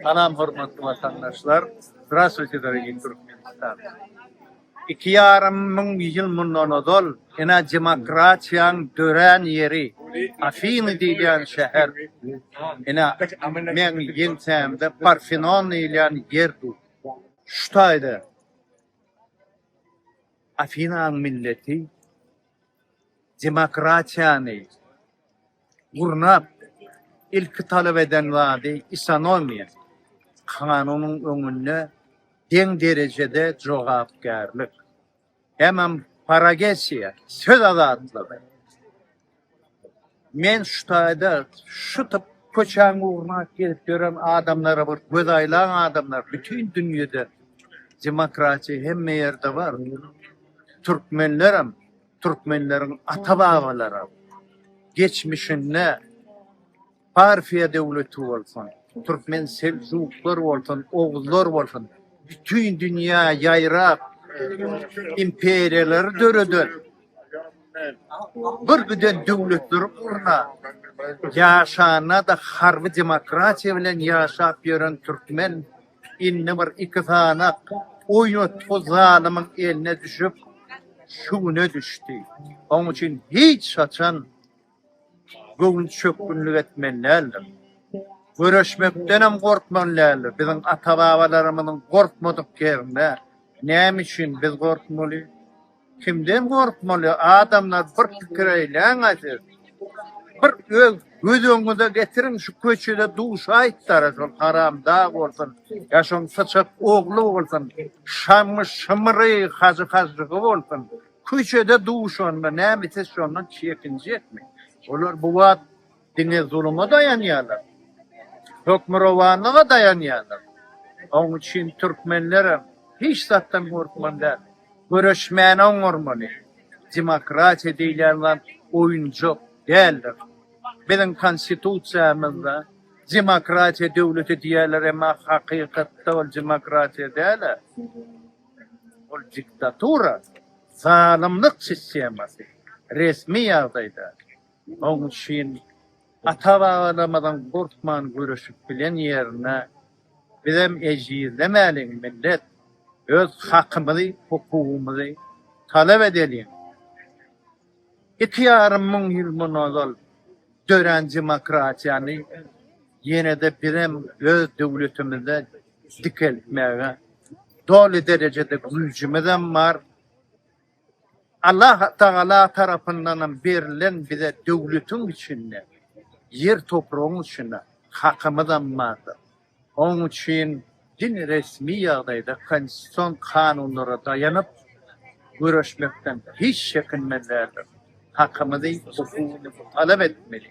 Salam hormatly watandaşlar! Zdravstwuýte, dorogiý Türkmenistan! Iki ýarym müň ýyl mundan ozal ene demokratiýaň dörän ýeri Afiny diýilýän şäher, ene meň ýeňsämde Parfenon diýilýän ýer dur. Şu taýda Afinaň milleti demokratiýany, gurnap, ilki talap eden zady isonomiýa, kanunyň öňünde deň derejede jogapkärlik, hemem paragesiýa, söz azatlygy. Men şu taýda şu typ köçäň ugruna gezip ýören adamlara bir göz aýlan adamlar bütin dünýede demokratiýa hemme ýerde bar. Türkmenlerem Türkmenleriň ata-babalary geçmişinde Parfiýa döwleti bolsun, türkmen seljuklar bolsun, oguzlar bolsun, bütin dünýä ýaýrap, imperiýalary döreden bir giden döwletleri gurna ýaşanda-da harby demokratiýa bilen ýaşap ýören türkmen Indi bir iki sanak oýnatgy zalymyň eline düşüp, şu güne düşdi. Oň üçin hiç haçan göwnüçökgünlik etmeli däldir. Göreşmekdenem gorkmaly däldir. Biziň ata-babalarymyzyň gorkmadyk ýerinde näme üçin biz gorkmaly? Kimden gorkmaly adamlar bir pikir eýläňä siz. Bir öz göz öňüňize getiriň şu köçede duşaýypdara şol haramdag bolsun ýa şoň syçak ogly bolsun şamy şymyry hajy hažžygy bolsun köçede duşanda näme siz şondan çekinjekmi olar bu wagt Diňe zuluma daýanýarlar. Hökmürowanlyga daýanýarlar. Oň üçin türkmenlerem hiç zatdan gorkmaly däl. Göreşmäni oňarmaly. Demokratiýa diýilýän zat oýunjak däldir. Biziň konstitusiýamyzda demokratiýa döwleti diýýärler, emma hakykatda ol demokratiýa däl-ä. Ol diktatura, zalymlyk sistemasy resmi ýagdaýda. Oň üçin ata-babalarymyzyň gurtman göreşip bilen ýerine bizem ejizlemäliň millet, öz hakymyzy, hukugymyzy talap edeliň. Iki ýarym müň ýyl mundan ozal dörän demokratiýany ýene-de bizem öz döwletimizde dikeltmäge doly derejede güýjümizem bar. Allah Tagala tarapyndanam berlen bize döwletiň içinde, ýer topragyň içinde hakymyzam bardyr. Onuň üçin diňe resmi ýagdaýda konstitusion kanunlara daýanyp göreşmekden hiç çekinmelidirler. Hakymyzy, hukugymyzy talap etmeli.